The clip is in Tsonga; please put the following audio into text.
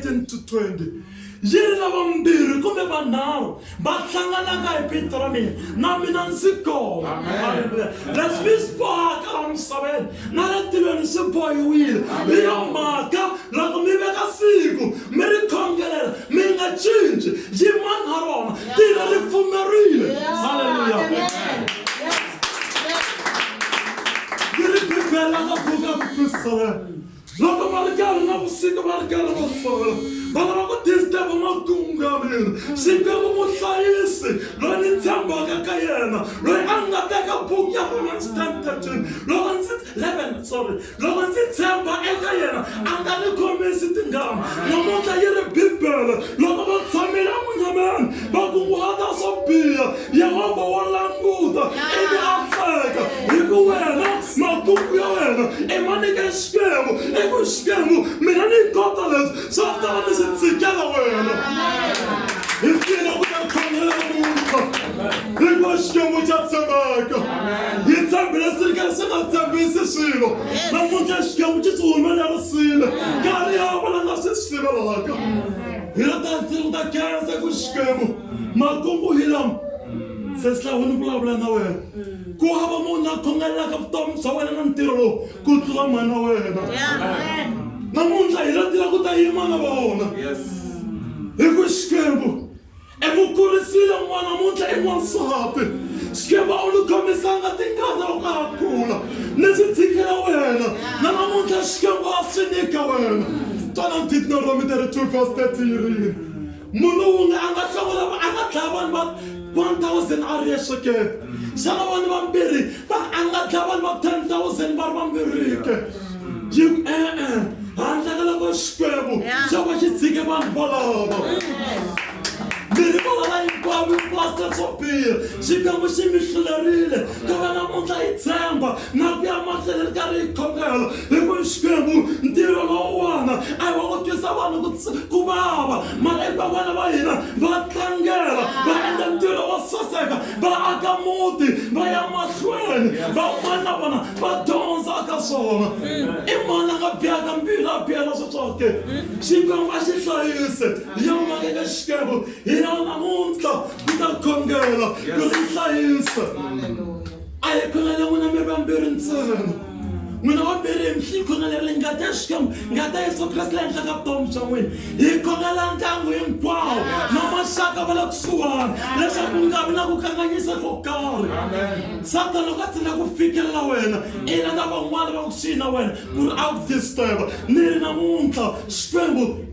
19 to 20 yi ri lava mbirhi kumbe vanharhu va hlanganaka hi vito ra mina na mina ndzi kona leswi mi swi bohaka la misaveni na le tilweni swi bohiwile hi yo mhaka loko mi veka siku mi ri khongelela mi nga cinci yi mani ha rona tilo ri pfumerile halleluya yi ri bibele la ka buka ku twisisana Loko va ri karhi na vusiku va ri karhi va sola va lava ku disturb makungamiri xikwembu muhlayisi loyi ni tshembaka ka yena loyi a nga teka buku ya vona ndzi ten thirteen loko ndzi eleven sorry loko ndzi tshemba eka yena a nga ni khomisi tingama namuntlha yi ri bibele loko va tshamile emunyameni va kunguhata swo biha Yehovha wa languta ivi a tsaka hi ku wena makuku ya wena i ma nyike xikwembu i ku xikwembu mina ni kota leswi swa ta va ni swi tsikela wena hi tlina ku ta khomela munhu hikuva xikwembu xa tshembeka hi tshembile swi ri karhi swi nga tshembisi swilo namuntlha xikwembu xi swi humelerisile nkarhi ya vona nga swi swi sivelaka hi la ta tsiri ku ta khensa ku xikwembu makungu hi lama se silawu ni vulavula na wena ku hava munhu a khongelelaka vutomi bya wena na ntirho lowu ku tlula mhana wena namuntlha hi lo tila ku ta yima na vona hi ku xikwembu emukurisile n'wana muntlha i n'wansati xikwembu a wu ni khomisanga tingana u nga ha kula ni swi tshikela wena na namuntlha xikwembu a swi nyika wena twana ditna romite ri 2 vs 30 yirini munhu wunge a nga hlawula a nga dlaya vanhu va 1000 a ri yexe ke xana vanhu vambirhi va a nga dlaya vanhu va 10000 va ri vambirhi ke yi e-e handle ka loko xikwembu xo va xi tshike vanhu volova mirhi volova hinkwavo hinkwaseswo biha xikwembu xi mi hlulerile ka va namuntlha yi tshemba na ku ya mahlweni ri karhi hi khongela hikuva xikwembu ntirho lowuwana a hi wa ku twisa vanhu ku vava mara i vavana va hina va tlangela va endla ntirho wo saseka va aka muti va ya mahlweni van'wana na vona va dyondza ka swona i mani a nga biyaka mbilu a biyela swi swoke xikwembu a xi hlayise ya mhaka ka xikwembu hi yona namuntlha ku ta khongela ku ri hlayisa a hi khonele n'wina mi ri vambirhi ntsena n'wina vambirhi mi xi khonelele ngati ya xikwembu ngati ya yesu kreste la henhla ka vutomi bya n'wina hi khonela ndyangu hinkwawo na maxaka va le kusuwani leswaku ku nga vi na ku kanganyisa ko karhi satana loko a tsina ku fikelela wena i lava van'wana va kusuhi na wena ku ri a ku disturba ni ri namuntlha xikwembu